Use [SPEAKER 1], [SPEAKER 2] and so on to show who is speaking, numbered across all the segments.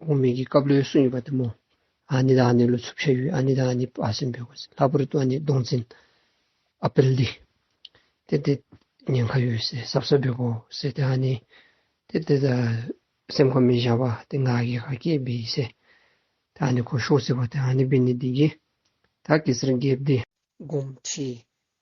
[SPEAKER 1] དབང་མེད་ཀྱི་སྐབས་ལོའི་སུན་ཡོད་པ་དུ་མོ། ཨ་ནི་དང་ཨ་ནི་ལོ་ཚུབ་ཤ་ཡོད་ཨ་ནི་དང་ཨ་ནི་བ་སེམས་བོད་ལྷ་བུ་རུ་ཏུ་ཨ་ནི་སྡོང་འཛིན། ཨ་པེལ་ལི། དེ་དེ། ཉེན་ཁ་ཡོད་སེ་སྲབ་སྲབ་བེ་བོ་སེ་དེ་ཨ་ནི། དེ་དེ། སེམས་ཁོ་མི་བཞག་པ་དེ་ང་གི་ཧ་ཀེ་བི་ཡི་སེ། དེ་ཨ་ནི་ཁོ་ཤོག་སེ་བ་དེ་ཨ་ནི་བི་ནི་དེ་གི། ད་གེ་སེར་འགེབ་དེ། སྒོམ་ཁྲི།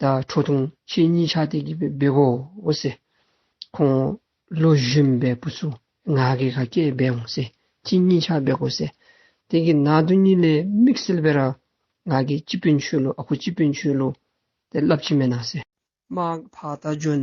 [SPEAKER 1] ད་ཁྲོ་ཐུང་ཁྱེད་གཉིས་ཆ་དེ་གི་བེ་གོ་འོ་སེ། ཁོང་ལོ་བཞུན་བེ་པུ་སུ་ང་གི་ག་སྐྱེས་བེ་འོ་སེ་ཁྱེད་གཉིས་ཆ་བེ་གོ་སེ། དེ་གི་ན་དུ་གཉིས་ལེ་མིག་སེལ་བེ་ར་ང་གི་ཅི་བེ་མཆུ་ལོ་ཨ་ཁུ་ཅི་བེ་མཆུ་ལོ་དེ་ལབ་ཅི་མེ་ན་སེ། མ་བ་ད་འཇོན་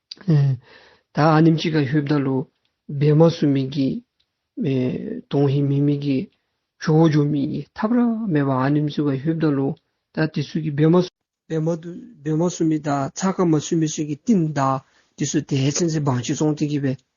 [SPEAKER 1] ད་ཨ་ནིམ་ཅིག་ག་ཧུད་བདག་ལོ་བེ་མ་སུ་མི་གི། དོང་ཧི་མི་མི་གི། ཞོ་བོ་ཇོ་མི་གི་ཐབ་ར་མེ་བ་ཨ་ནིམ་སུ་ག་ཧུད་བདག་ལོ་ད་དི་སུ་གི་བེ་མ། བེ་མ་དུ་བེ་མ་སུ་མི་ད་ཚ་ཀ་མ་སུ་མི་སུ་གི་ཏིན་ད་དི་སུ་དེ་ཧེ་ཚན་ཚེ་བང་ཆི་ཙོང་ཏི་གི་བེ་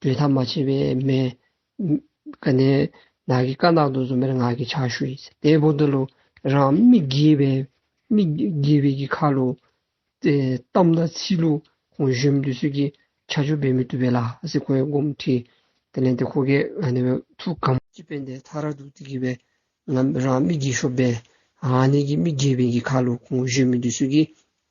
[SPEAKER 1] བསྒྲོད་ཐག་མ་ཆད་པའི་མེ། ཀ་ནས་ནག་གི་ཀ་ནག་ཏུ་འཛུམ་པའི་ནག་གི་ཆ་ཤུ་ཡིས་དེ་བོ་འདི་ལོ་རང་མིག་དགེ་བའི་མིག་དགེ་བའི་གི་ཁ་ལོ། གཏམ་དང་ཚིག་ལོ་གོང་བཞོན་དུ་སོད་ཀྱི་ཆ་ཆོ་བེ་མི་ཏུ་བེ་ལ་སི་ཁོ་ཡེ་སྒོམ་ཁྲི་དེ་ལན་དེ་ཁོ་གེ་ནི་བེ་ཐུ་གམ། ཅི་བེ་འདི་ཐ་ར་དུ་ཏི་གི་བེ་རང་མིག་དགེ་ཤོ་བེ་ཧ་ནི་གི་མིག་དགེ་བེ་གི་ཁ་ལོ་གོང་བཞོན་མི་ཏུ་སོད་ཀྱི་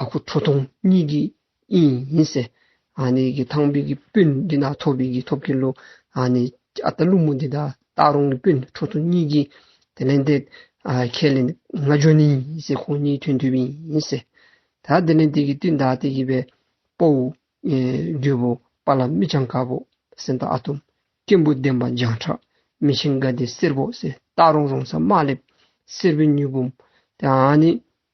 [SPEAKER 1] ཨ་ཁུ་ཁྲོ་ཐུང་གཉིས་ཀྱི་དབྱིངས་ཡིན་ཟེར། ཨ་ཁུ་ཐང་བུ་གི་སྤུན་འདི་དག་ཐོབ་གི་གི་ཐོབ་གི་ལོ། ཨ་ཁུ་ལུག་མོ་འདི་དག་བཏགས་རུང་གི་སྤུན་ཁྲོ་ཐུང་གཉིས་ཀྱི་དེ་ལན་དེ། ཁས་ལེན་ང་ལྗོན་ནི་ཡིན་ཟེར་ཁོང་གཉིས་ཐོན་དུས་བིན་ཡིན་ཟེར། ད་དེ་ལན་དེ་གི་སྟེ་མདའ་དེ་གི་བའི་པོ། རྒྱུ་བོ་པ་ལ་མི་ཆང་ག་བོ་སེ་འདའ་ཨ་ཐུམ། སྐྱེན་བུ་ལྡན་པ་འཇང་ཁྲག་མི་ཆིང་ག་དེ་སེར་བོ་སེ་བཏགས་རུང་རུང་ས་མ་ལེབ་སེར་བུ་མྱུ་བུམ། ཨ་ཁུ།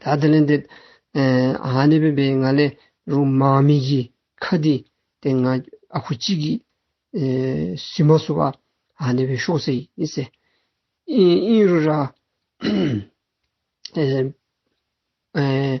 [SPEAKER 1] ད་ལྟ་ལན་འདེབས། ཨ་ནེ་པེ་པེ་ང་ལས་རུ་མ་མི་གི་ཁ་དི་དེ་ང་ཨ་ཁུ་གཅིག་གི་སི་མ་སུ་བ་ཨ་ནེ་པེ་ཤོག་སེ་ཡི་སེ་ཨིན་རུ་ར་ཨེ།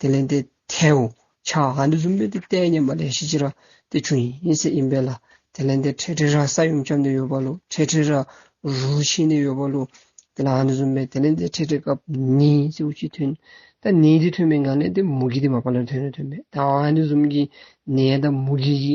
[SPEAKER 1] དེ་ལན་དེ་ཐལ། ཆ། འདི་གཟུགས་མེད་དེ་བལྟས་སྙམ་པ་ལས་གཞི་ཅི་ར་ཏི་ཆུ་ཡིན་སྲིད་ཡིན་པས་ལ་དེ་ལན་དེ་ཁྲེ་ཁྲེ་ར་ས་ཡུམ་ཁྱབ་ནས་ཡོད་པ་ལུག་ཁྲེ་ཁྲེ་ར་རུ་ཕྱིན་ནས་ཡོད་པ་ལུག་དེ་ལ་འདི་གཟུགས་མེད་དེ་ལན་དེ་ཁྲེ་ཁྲེ་སྐབས་ནི་ཅི་བུ་ཅི་ཐོན་ད་ནི་དེ་ཐོན་མེད་ང་ལན་དེ་མུ་གེ་དེ་མ་པ་ལན་ཐོན་ནི་ཐོན་མེད་ད་འདི་གཟུགས་མེད་ཀྱི་ནི་ད་མུ་གེ་ཡི་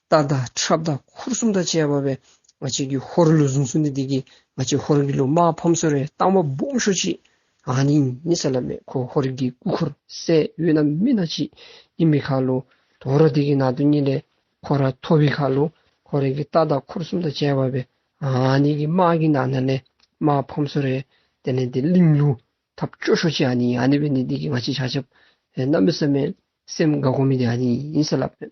[SPEAKER 1] རྟ་དང་ཁྲབ་དང་འཁོར་གསུམ་དང་བཅས་པ་བས་ང་ཅག་གི་ཧོར་ལོ་གཟུངས་སུ་འདི་དེ་གི་ང་ཅག་ཧོར་གི་ལོ་དམག་ཕམ་སོ་རའི་སྟག་མ་སྦོམ་ཤོ་ཅིག་ཨ་ནི་མི་ས་ལ་མེད་ཁོ་ཧོར་གི་སྐུ་འཁོར་སའི་དབུས་ན་མི་ན་ཅིག་ཨི་མི་ཁ་ལོ་དོ་ར་དེ་གི་ན་དོ་གཉིས་ལས་ཁོ་ར་ཐོ་བི་ཁ་ལོ་ཁོ་ར་གི་རྟ་དང་འཁོར་གསུམ་དང་བཅས་པ་བས་ཨ་ནི་གི་དམག་གི་ན་ན་ལས་དམག་ཕམ་སོ་རའི་དེ་ནས་དེ་གླིང་ལུ་ཐབ་ཅོ་ཤོ་ཅིག་ཨ་ནི་ཨ་ནི་བས་འདི་དེ་གི་ང་ཅག་བྱ་བྱ་བས་ན་མི་ས་མའི་སེམས་དགའ་གོ་མི་དེ་ཨ་ནི་མི་ས་ལ་མེད།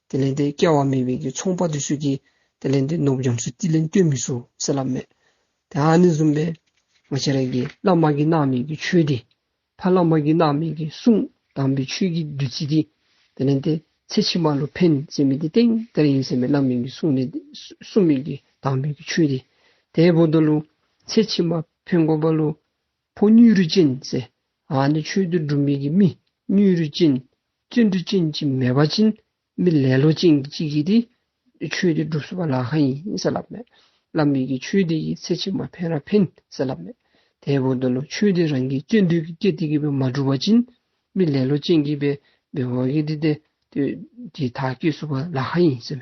[SPEAKER 1] དེ་ལས་འདི་སྐྱེ་བ་མེད་པའི་གིས་ཚོང་པ་དུས་སུ་གྱིས་དེ་ལས་འདི་ནོབ་ཡོངས་སུ་ཅི་ལེན་སྟོན་མི་སྲུ་སེ་ལ་མེད། དེ་ཧ་ནི་གཟུམ་པའི། མ་ཤ་རལ་གྱིས་བླ་མ་གིས་སྣང་མེད་ཀྱི་ཆོས་འདི། ཕ་བླ་མ་གིས་སྣང་མེད་ཀྱི་གསུང་དམ་པའི་ཆོས་ཀྱི་བདུད་རྩི་འདི། དེ་ལས་འདི་ཚེ་ཕྱི་མ་ལོ་ཕན་ཚེ་མི་དེ་སྟེང་དེར་ཡིན་ཟེར་མེད་བླ་མིན་གྱི་གསུང་འདི་གསུང་མེད་ཀྱི་དམ་པའི་ཆོས་འདི། དེའི་བུ་དོ་ལུ། ཚེ་ཕྱི་མ་ཕན་དགོན་པ་ལུ། ཕོ་གཉུས་རུས་ཅན་ཚེ་ཨ་ནི་ཆོས་འདུལ་སྒྲུབ་མིག་གི་མི་གཉུས་རུས་ཅན། བརྩོན་འགྲུས་ཅན་གྱི་མེ་བ་ཅན། མི་ལེ་ལོ་ཅན་གྱི་གཅིག་གིས་དེའི་ཆོས་དེ་སྒྲུབས་སོ་བ་ལ་ཧ་ཡིན་ཟེར་ལབ་མེད། ལབ་མེད་ཀྱི་ཆོས་དེ་ཡི་ཚེ་ཕྱི་མ་འཕེན་ར་འཕེན་ཟེར་ལབ་མེད། དེའི་བོ་དོན་ནོ་ཆོས་དེ་རང་གི་བརྩོན་འདུས་ཀྱི་སྐད་དེ་གིས་བས་མ་སྒྲུབས་བ་ཅན། མི་ལེ་ལོ་ཅན་གྱིས་བས་བའི་བ་གིས་དེ་དེ་དེ་དག་སྐྱེས་སོ་བ་ལ་ཧ་ཡིན་ཟེར།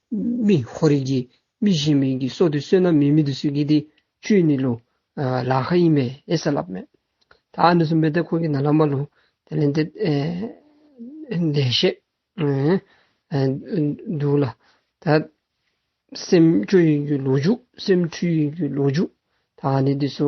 [SPEAKER 1] རྨི་ཧོ་རིགས་ཀྱི་རྨི་བཞིན་མིན་གྱི་སྲོག་དུ་གསོས་ན་མི་རྨི་དུ་གསོས་ཀྱི་དེ་བཅུས་ནི་ལོ། ལ་ཧ་ཡིན་པས་ཨེ་ས་ལབ་མོད། ད་ཨ་ནུ་སུ་མེ་ཏེ་ཁོ་གི་ན་ལ་མ་ལུ། དེ་ལན་དེ། འདས་ཤེས། འདུག་ལ། ད། སེམས་སྐྱོ་ཡིན་གྱི་ལོ་འཇུག་སེམས་འཁྲུལ་ཡིན་གྱི་ལོ་འཇུག་ད་ཨ་ནི་དེ་སོ།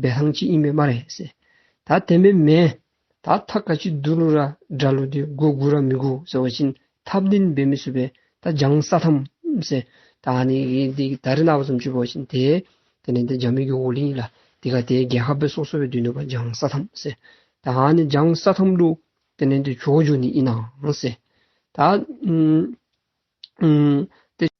[SPEAKER 1] བའི་ལྷང་ཅིག་ཨིན་མེད་མ་རེད་ཟེར། ད་དེ་མེད་མེད། ད་ཐ་ག་ཅིག་བསྡུ་ལུ་ར་སྒྲ་ལུ་དེ་དགོས་དགོས་ར་མི་དགོས་ཟེར་བ་བཞིན་ཐབས་བདེན་འབད་མི་བཟོད་པས་ད་སྦྱང་ས་ཐམ་ཟེར། ད་ནི་དེ་གི་ད་རི་ནག་པོ་ཙམ་བཅོས་པ་བ་བཞིན་དེ། དེ་ནི་འདི་འཇག་མི་དགོས་འོ་ལིང་ལ་དེ་ག་དེ་རྒྱལ་ཁ་བོད་སོག་སོ་བའི་དུས་ནོད་པ་སྦྱང་ས་ཐམ་ཟེར། ད་ཧ་ནི་སྦྱང་ས་ཐམ་ལུ། དེ་ནི་འདི་ཆོག་འཇོག་ནི་ཨི་ནང་ཟེར། ད། དེ།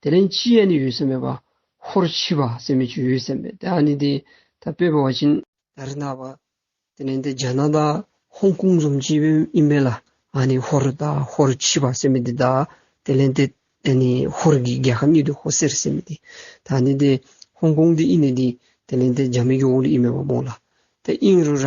[SPEAKER 1] དེ་ལན་ཅི་ཡས་ནི་ཡོད་སེམས་མེད་པ། ཧོར་མཆིས་པ་སེམས་མེད་ཅིག་ཡོད་སེམས་མེད་དེ་ནི་དེ་ད་པེ་པོ་བ་ཅིན། ད་རི་ནཱ་བ། དེ་ནན་དེ་རྒྱ་ནག་ད་ཧོང་ཀུང་རྫོམ་མཆིས་པེ་ཡིན་པེ་ལ་ཨ་ནི་ཧོར་ད་ཧོར་མཆིས་པ་སེམས་མེད་དེ་ད་དེ་ལན་དེ་དེ་ནི་ཧོར་གི་རྒྱལ་ཁབ་གཉིས་དུ་ཧོ་སེར་སེམས་མེད་དེ་ད་ནི་དེ་ཧོང་ཀུང་དེ་ཨིན་ནི་དེ་དེ་ལན་དེ་རྒྱ་མི་གི་འོག་ལ་ཨིན་མེད་པ་མོང་ལ་དེ་ཨིན་རུ་ར།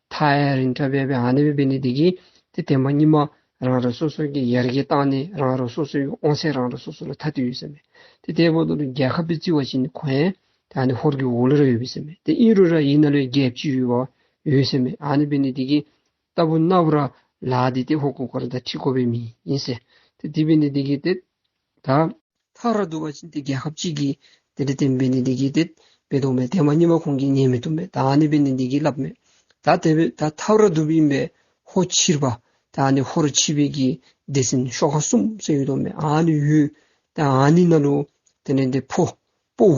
[SPEAKER 1] ཐའི་རིན་ཏྲ་བྷེ་བྷེ་ཨ་ནི་བྷེ་བྷེ་ནི་དེ་གི་དེ་བསྟན་པ་གཉིས་མ་རང་རང་སོ་སོ་གི་ཡར་རྒྱས་བཏང་ནས་རང་རང་སོ་སོའི་དབང་ཚད་རང་རང་སོ་སོ་ལ་ཐ་དུས་ཡོད་ས་མེད་དེ་ལྟའི་བོ་དོ་ལུ་རྒྱལ་ཁབ་ཏུ་བརྩི་བ་ཞིག་ནི་གོ་ཡན་དེ་ཨ་ནི་ཧོར་གི་འོ་ལུ་ར་ཡོད་བི་ས་མེད་དེ་ཨིན་རུ་ར་ཡིན་ན་ལོས་རྒྱལ་བཅུ་ཡོད་བ་ཡོད་ས་མེད་ཨ་ནི་བྷེ་ནི་དེ་གི་ཏཱ་བུ་ན་བུ་ར་ལ་དེ་དེ་ཧོ་ཀོ་ཀོ་ར་ད་ཁྲི་ཀོ་བྷེ་མི་ཡིན་ས་དེ་དེ་བྷེ་ནི་དེ་གི་དེ་ད། ཐག་ར་དུ་བ་ཅི་སྟེ་རྒྱལ་ཁབ་གཅིག་གིས་དེ་འདྲ་བསྟན་པས་ནི་འདི་གྱིས་དེ་བས་ལྡོག་མེད་དེ་མ་རྙེད་པ་ཁོང་གིས་རྙེད་མི་ཐུབ་མོད་ད་ནི་བས་ནི་འདི་གྱིས་བསླབ་མོད་ད་དེ་བས་ད་ཐག་ར་དུ་བ་ཡིན་པས་ཧོ་ཕྱིར་བ། ད་ནི་ཧོ་རུ་ཕྱིས་བས་ཀྱིས་འདི་ཟིན་ཤོག་ཧ་སུམ་སེ་ཡོད་དོ་མོད་ཨ་ནི་ཡོད། ད་ཨ་ནི་ན་ལོ། དེ་ནས་འདི་ཕོ། པོ།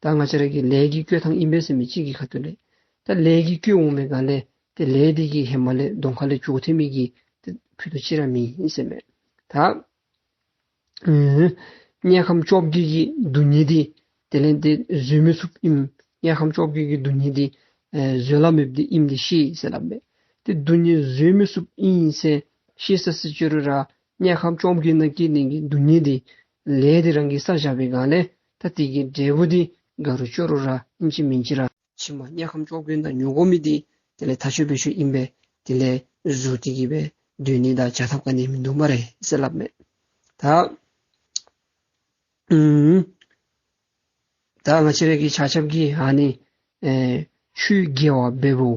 [SPEAKER 1] ད་སྔ་ཕྱི་རབས་ཀྱི་ལས་ཀྱི་སྐྱོ་ཐང་ཨིན་པའི་སེམས་མི་གཅིག་གི་ཁ་ཏུ་ལས། ད་ལས་ཀྱི་སྐྱོ་འོང་མེད་ག་ལས་དེ་ལས་དེ་ཀྱི་ཧེ་མ་ལས་གདོང་ཁ་ལས་ཅུག་ཐེ་མི་གི་དེ་ཕུད་དུ་ཅི་ར་མི་ཡིན་སེམས་མེད། ད། དམྱལ་ཁམས་ཅོག་བརྒྱད་ཀྱི་རྡུལ་སྙེད་དེ་དེ་ལས་དེ་བཟོད་མི་ཐུབ་ཨིམ། དམྱལ་ཁམས་ཅོག་བརྒྱད་ཀྱི་རྡུལ་སྙེད་དེ་བཟོད་ལ་མི་བདེ་ཨིམ་དེ་ཤེས་ཡིན་ཟེར་ལབ་མེད། དེ་རྡུལ་སྙེད་བཟོད་མི་སུབ་ཨིན་ཡིན་སེ་ཤེས་ས་སི་ཅོ་རི་ར་དམྱལ་ཁམས་ཅོག་བརྒྱད་ན་སྐྱེས་ལྡན་གྱི་རྡུལ་སྙེད་དེ་ལས་དེ་རང་གི་ས་བཞག་པའི་གང་ལས་ད་སྟེ་ཀྱི་འབྲས་བུ་དེ་དགའ་རུ་སྤྱོད་རུ་ར་ཨིན་ཅི་མིན་ཅི་ར། ཕྱི་མ་དམྱལ་ཁམས་ཅོག་བོན་དང་ཉོན་གོམས་མི་དེ་དེ་ལས་ཐ་ཆོད་བེད་ཆོད་ཨིན་པས་དེ་ལས་གཟུར་ཏེ་ཀྱི་བས་དུས་ནི་ད་བྱ་ཐབས་ག་ནས་མི་འདུག་མ་རེད་སེ་ལབ་མེད། ད། ད་ང་ཕྱི་རེས་ཀྱི་བྱ་ཆབ་ཀྱི་ཧ་ནི། ཆུའི་རྒྱལ་བ་བེ་བོ།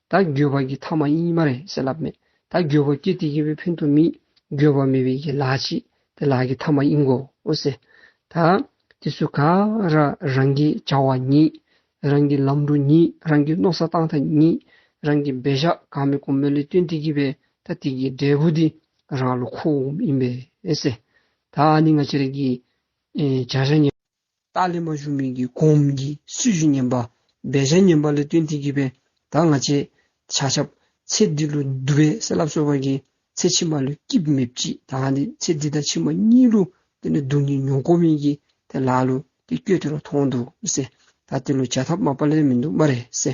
[SPEAKER 1] ད་རྒྱོད་པ་གྱི་ཐ་མ་ཡིན་གྱི་མ་རེད་ཟེར་ལབ་མེད། ད་རྒྱོད་པ་སྐྱེ་དེ་ཡིན་པའི་ཕན་ཐོག་མིན། རྒྱོད་པ་མེད་པའི་ཡན་ལག་གཅིག་དེ་ལག་གི་ཐ་མ་ཡིན་གོ་ཟེར། ད་དེ་སུ་ག་ར་རང་གི་བྱ་བ་ཉིད། རང་གི་ལམ་འགྲོ་ཉིད་རང་གི་རྣོ་ས་བཏང་ཐ་ཉིད། རང་གི་འབད་བཞག་གང་མི་གོ་མོད་ལས་དོན་དེ་གྱིས་པས་ད་དེ་གྱི་འབྲས་བུ་དེ་རང་བློ་ཁོག་འོམ་ཡིན་པས། ད་ཨ་ནི་ང་ཅི་རིགས་ཀྱི་བྱ་བྱ་ཉེས། རྟགས་ལས་མ་བྱུང་མིན་གྱི་གོང་གི་སུས་བཞིན་ཉན་པ་སྦས་བྱ་ཉན་པ་ལས་སྟོན་མཐིལ་གྱི་བས་དག་ང་ཅའི་བྱ་ཁྱབ། ཚེ་འདི་ལོ་བསྡུ་བའི་ཟས་ལ་གསོལ་བ་གྱིས་ཚེ་ཕྱི་མ་ལོའི་སྐྱིབས་མེད་ཀྱི་དག་ང་འདི་ཚེ་འདི་དང་ཕྱི་མ་གཉིས་ལོ་དེ་ནས་སྡུག་ཉེས་མྱོང་གོ་མིན་གྱི་དེ་ལ་ལོ་དེ་སྐྱོད་དེ་ལོ་ཐོང་འདུག་སེ་ད་དེ་ལོ་བྱ་ཐབས་མ་པ་ལས་མི་འདུག་མ་རེད་སེ།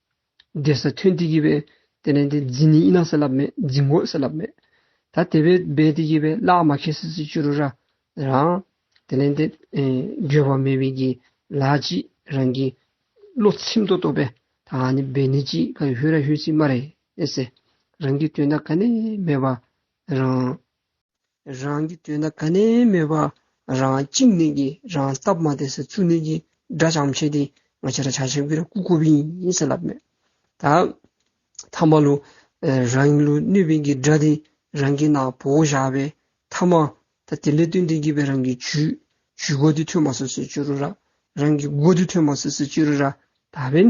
[SPEAKER 1] འབྲས་ས་ཐོན་ཏེ་གྱིས་པས་དེ་ནས་དེ་འཛིན་ནི་ཨི་ན་ས་ལ་མེད་འཛིན་དགོས་ས་ལ་མེད། ད་དེ་བས་སྦས་ཏེ་གྱིས་པས་བླ་མ་ཁས་སི་སི་ཅུ་རུ་ར་རང། དེ་ནས་དེ་འགྱོད་པ་མེད་པས་གྱིས་ལ་ཅི་རང་གིས་བློ་ཚིམ་དུ་བཏོད་པས་ད་ཧ་ནི་སྦས་ནི་ཅི་ག་ཧུད་ར་ཧུད་ཚིག་མ་རེད་ཨེ་སེ། རང་གིས་དོན་དག་ག་ནས་སྨྲས་པ་རང། རང་གི་དོན་དང་ག་ནས་མེད་པ་རང་གཅིག་ནས་ཀྱི་རང་སྟབས་མ་དེ་སེ་ཚུགས་ནས་ཀྱི་སྒྲ་བྱང་མཆེད་དེ་ང་ཆེ་ར་ཆ་ཆེ་གི་ར་ཀུ་ཀོ་བིན་ཡིན་སེ་ལབ་མེད། ད་ཐ་མ་ལོ་རང་ལོ་གནོད་བིན་གི་སྒྲ་དེ་རང་གི་ན་བོ་བཞག་པའི་ཐ་མ་ད་དེ་ལས་དོན་དེ་གི་བའི་རང་གི་ཇུས་ཇུས་གོ་དེ་ཐོས་མ་སོ་སེ་ཅོ་རུ་ར་རང་གི་གོ་དེ་ཐོས་མ་སོ་སེ་ཅོ་རུ་ར་ད་བིན་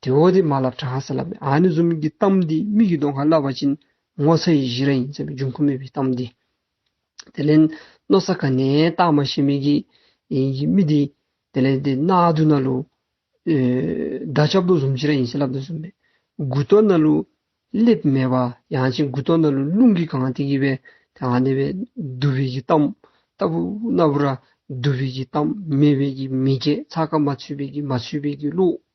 [SPEAKER 1] དེ་འོ་དེ་མ་ལབ་གྲང་ཧ་ས་ལབ་ཨ་ནི་གཟུགས་མིག་གི་གཏམ་འདི་མིག་གི་མདོག་ཧ་ལབ་བ་ཅིན་ངོ་ཚ་ཡི་གཞི་ར་ཡིན་ཟེར་བའི་འབྱུང་ཁུངས་མེད་པའི་གཏམ་འདི། དེ་ལན་ནོ་ས་ག་ནས་བཏགས་མ་ཤེས་མི་གི་ཡིན་གི་མི་དེ་དེ་ལན་དེ་ན་དུ་ན་ལུ། ད་ཆབ་མདོག་གཟུམ་གཞི་ར་ཡིན་ས་ལབ་དུ་ཟུམ་མེད་དགུ་ཏོ་ན་ལུ་སླེབ་མེད་པ་ཡང་ཅིན་དགུ་ཏོ་ན་ལུ་རླུང་གི་གང་དེ་གི་བས་དེ་ང་ནི་བས་བསྡུ་བས་གི་གཏམ་ལྟ་བུ་ན་བུ་ར་བསྡུ་བས་གི་གཏམ་མེད་བས་གི་མི་སྐད་ཚ་ཁ་མ་ཚུད་བས་གི་མ་ཚུད་བས་གི་ལུགས།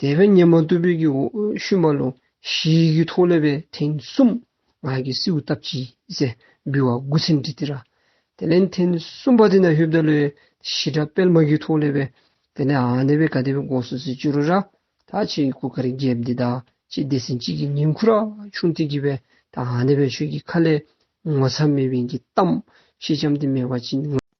[SPEAKER 1] དད་པའི་སྙེ་མ་རྟུལ་ཕོད་ཀྱི་འོད་ཞུ་མ་ལོ་བཞིའི་རྒྱུད་ཐོག་ལེ་བའི་ཐེངས་གསུམ་ང་ཀྱི་སྲིའུ་སྟབས་ཀྱིས་ཟེར་འབུལ་བ་དགུ་ཚན་བྲིས་ཏེ་ར་དེ་ལན་ཐེངས་གསུམ་པ་དེ་ན་ཧུད་བརྡ་ལོའི་ཞི་དྲག་དཔལ་མ་རྒྱུད་ཐོག་ལེ་བའི་དེ་ལན་ཨ་ནེ་བའི་ག་དེ་བའི་སྒོ་སུ་སི་ཅུ་རུ་ར་ད་ཆེ་ཡི་གུ་ག་རི་རྒྱལ་བདེ་དག་ཅེས་བདེ་སྲིན་སྐྱིད་ཀྱི་ཉིང་ཁུ་ར་ཆུང་ཏི་གི་བའི་ད་ཨ་ནེ་བའི་ཆོས་ཀྱི་ཁ་ལས་ངོ་ཚ་མེད་བན་གྱི་གཏམ་ཤེས་བྱམས་ཏི་མེ་བ་ཅི།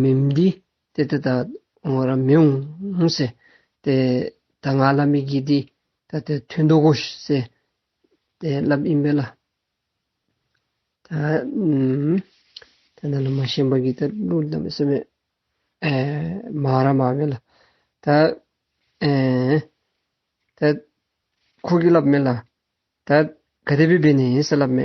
[SPEAKER 1] མི་འདི་དེ་ད་ངོ་ར་མི་འོང་ཟེ། དེ་ད་ང་ལ་མི་གི་དེ་ད་དེ་ཐུན་འདོ་གོ་ཟེ། དེ་ལབ་ཨིན་བེ་ལ། ད་དེ་ན་ལ་མ་ཤེན་པ་གི་ད་ལུ་ལ་མི་སེ་མེ། མ་ར་མ་བེ་ལ། ད་དེ་ཁོ་གི་ལབ་མེ་ལ། ད་ག་དེ་བི་བེ་ནི་ཨིན་སེ་ལབ་མེ།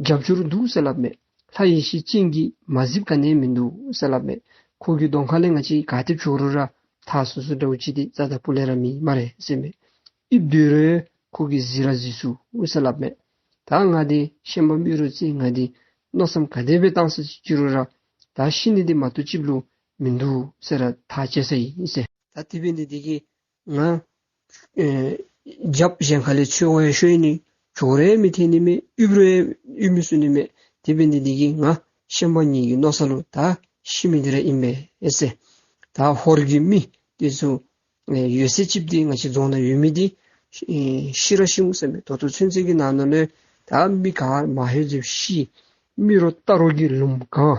[SPEAKER 1] རྒྱབ་སྐྱོར་འདུག་གསལ་ལབ་མེད། ལྷ་ཡེ་ཤེས་ཅན་གྱིས་མ་གཟིབ་ག་ནས་མི་འདུག་གསལ་ལབ་མེད། ཁོ་གུ་གདོང་ཁ་ལེ་ང་ཅི་ག་ཐེབས་ཤོག་རུ་ར་ཐ་སུ་སུ་འདྲ་བོ་ཅི་སྟེ་ཙ་ཙ་པུ་ལེ་ར་མི་མ་རེད་གསལ་མེད། དབྱིབས་བདུད་རོལ་ཁོ་གི་གཟི་ར་གཟི་སུ་གསལ་ལབ་མེད། ད་ང་དེ་ཤན་པ་སྨྱོས་རུ་ཙི་ང་དེ་མནོ་བསམ་ག་དེ་བས་བཏང་ས་ཅི་ཅི་རུ་ར་ད་ཤི་ནི་དེ་མ་ཏོ་ཅིབ་ལུ་མི་འདུག་གསལ་ར་ཐ་བཅད་ས་ཡིན་གསལ། ད་དེ་བས་འདི་དེ་གི་ང། རྒྱབ་གཞན་ག་ལས་ཆོས་དབྱིངས་ཤོས་ནི། གྱོ་རའི་མི་ཐེན་ནི་མེད་དབྱུག་རའི་དབྱུག་མི་སུ་ནི་མེད། དེ་བས་འདི་འདི་གི་ང། ཤན་པ་གཉིས་ཀྱི་རྣོ་ས་ལུ་ད། ཤི་མི་འདི་ར་ཨིན་པའི་ཨེ་སེ། ད་ཧོར་གྱི་མི། དེ་ཚོ། ཡོད་སའི་ཅིབ་དེ་ང་ཅི་རྫོང་ན་ཡོད་མི་དེ། ཤི་ར་ཤི་མུ་སེ་མེད་དོ་དོ་ཚུན་ཚིག་གི་ནང་ན་ལོས། ད་མི་ག་མ་ཧེ་ཛིབ་ཤི། མི་རོ་རྟ་རོ་གི་ལུམ་གང།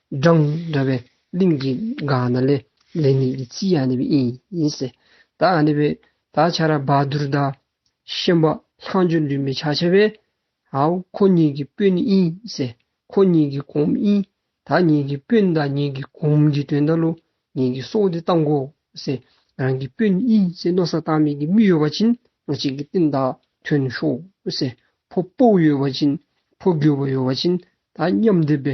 [SPEAKER 1] སྦྲང་འདྲ་བའི་གླིང་གི་འགག་ན་ལས་ལས་ནི་ཡི་ཙི་ཡ་ནི་བི་ཨིན་ཡིན་སེ། ད་ཨ་ནི་བི་ད་ཆ་ར་བ་དུར་ད་ཤན་པ་ལྷང་འཇུ་འདུན་པའི་ཆ་ཆེ་བས། ཧའོ་ཁོ་གཉིས་ཀྱི་སྤུན་ནི་ཨིན་སེ། ཁོ་གཉིས་ཀྱི་གོང་མི་ཨིན། ད་གཉིས་ཀྱི་སྤུན་ད་གཉིས་ཀྱི་གོང་མི་གྱི་དོན་ད་ལོ་ངེད་ཀྱི་སྲོག་འདི་བཏང་གོ་སེ། རང་གི་སྤུན་ནི་ཨིན་སེ་ནོ་ས་བཏང་མེད་ཀྱི་མི་ཡོད་བ་བྱིན་ནོ་གཅིག་གི་སྟེང་ད་ཐོན་ཤོག་སེ། ཕོ་སྤོགས་ཡོད་བ་བྱིན་ཕོ་རྒྱུ་བ་ཡོད་བ་བྱིན་ད་མཉམ་སྡེབ་པའི་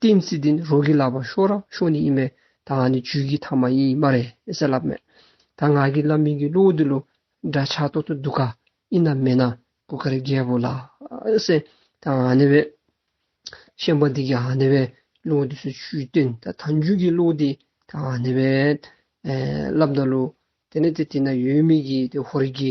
[SPEAKER 1] ཏིན་སི་ཏིན་རོ་གི་ལག་པ་ཤོ་ར་ཤོ་ནི་ཡིན་པས་ད་ང་ནི་ཇུས་ཀི་ཐ་མ་ཡིན་མ་རེད་ཟེར་ལབ་མོད། ད་ང་གི་བླ་མིང་གི་གླུ་བོ་འདི་ལོ་འདྲ་ཆགས་གཏོགས་ཏུ་འདུག་ག་ཡིན་ནམ་མེད་ན་གོ་ཁར་རྒྱལ་པོ་ལ་སེ་ད་ང་ནི་བས། ཤན་པ་འདི་གི་ང་ནི་བས་གླུ་བོ་འདི་སུ་བཅུའི་སྟོན་ད་ད་འཇུས་ཀི་གླུ་བོ་འདི་ད་ང་ནི་བས། ལབ་འདོད་ལོ་དེ་ནི་དེ་དེ་ན་ཡོད་མི་གི་དེ་ཧོར་གི།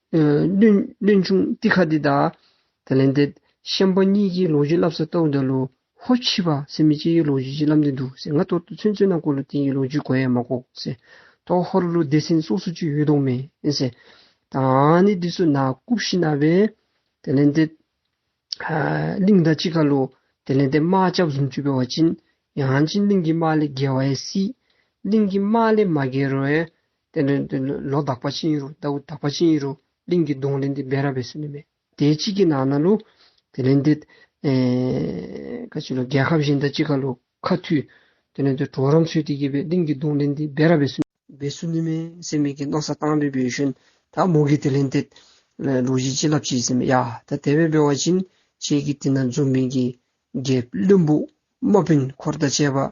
[SPEAKER 1] བློན་ཆུང་ཏི་ཁ་ཏི་དང། དེ་ལས་འདས། གཤམ་པ་གཉིས་ཀྱིས་ལོ་རྒྱུས་བསླབ་ས་ལྟ་བུ་འདྲ་ལོ། ཧོ་ཕྱི་པ་སེ་མི་སྐྱེས་ཡུལ་ལོ་རྒྱུས་ཀྱི་བསླབ་འདི་འདུག་ཟེར་ང་ལྟོ་ལྟོ་ཚོན་ཚོན་ནང་བཀོད་ལོ་དེང་གི་ལོ་རྒྱུས་གོ་ཡ་མ་གོ་ཟེར། ཏོག་ཧོ་རུ་ལུ་སྡེ་སེན་སོགས་སུ་ཅུས་ཡུལ་གདོང་མེན་ཟེར། དང་ནི་འདི་སུ་ན་ཀུབ་ཤི་ན་བས། དེ་ལས་འདས། གླིང་ད་ཅི་ཁ་ལོ། དེ་ལས་འདས་རྨ་ལྕགས་གཟུངས་བཅུ་པའི་བ་ཅིན། ཡང་ཅིན་གླིང་གི་རྨ་ལས་རྒྱལ་བ་ཡེ་སྲིད། གླིང་གི་རྨ་ལས་མ་རྒྱལ་རོལ། དེ་ནས་དེ་ནི་ལོ་དག་པ་ཕྱིན་ཡོད་རུང་ཟླ་བུ་དག་པ་ཕྱིན་ཡོད་རུང་གླིང་གི་གདོང་ལེན་དེ་སྦས་ར་བས་སུ་ནི་མེད། དེའི་ཕྱིས་ཀྱི་ནང་ན་ལོ། དེ་ནས་དེ། ཁ་ཅིག་ལོ་རྒྱལ་ཁབ་བཞིན་དང་ཅི་ག་ལོ་ཁ་མཐུས། དེ་ནས་དེ་གྲོག་རོང་ཚུལ་དེ་གྱིས་པའི་གླིང་གི་གདོང་ལེན་དེ་སྦས་ར་བས་སུ་ནི། བས་སུ་ནི་མེད་སེམས་མེད་ཀྱི་རྣག་ས་གཏང་བས་པའི་ཞོན་དག་མོ་གིས་དེ་ལེན་དེ། ལོ་བཞི་ཅི་ལབ་བྱས་སེམས་མེད་ཡ་ད་དེ་བས་སྦས་བ་ཕྱིན་ཆད་ཀྱི་དེ་ན་འཛུམ་མིན་གྱི། རྒྱལ་བློན་པུ། མོ་བོན་འཁོར་དང་བཅས་པ།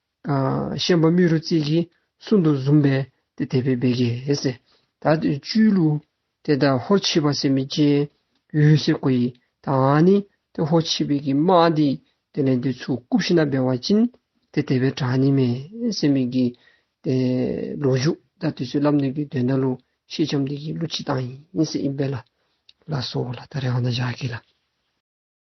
[SPEAKER 1] བཤན་པ་རྨུས་རུ་རྩིས་ཀྱིས་སུན་དུ་བཟུང་བས་དེ་དད་པས་སྦེད་ཀྱིས། ད་བཅུའི་གླུ། དེ་ལྟར་ཧོར་མཆིས་པ་སེམས་མི་སྐྱེ། ཡུལ་སེ་གོ་ཡིས་ད་འང་ནི་དེ་ཧོར་མཆིས་པས་ཀྱིས་མ་འདི་དེ་ནས་འདི་ཚུགས་སྐུ་ཕྱི་ན་སྦེད་བ་ཅིན། དེ་དད་པས་གྲགས་ནི་མེད་སེམས་མི་སྐྱེ། དེ་ལོ་བཞུགས་ད་དུས་སུ་བསླབ་ནོད་ཀྱི་དོན་ད་ལོ་ཤེས་ཆམ་འདི་ཀྱི་གླུ་ཅི་དང་ཡིན་སེ་ཨིན་པས་ལ། ལ་སོགས་ལ་ད་རེ་བ་ན་བཞག་གིས་ལ།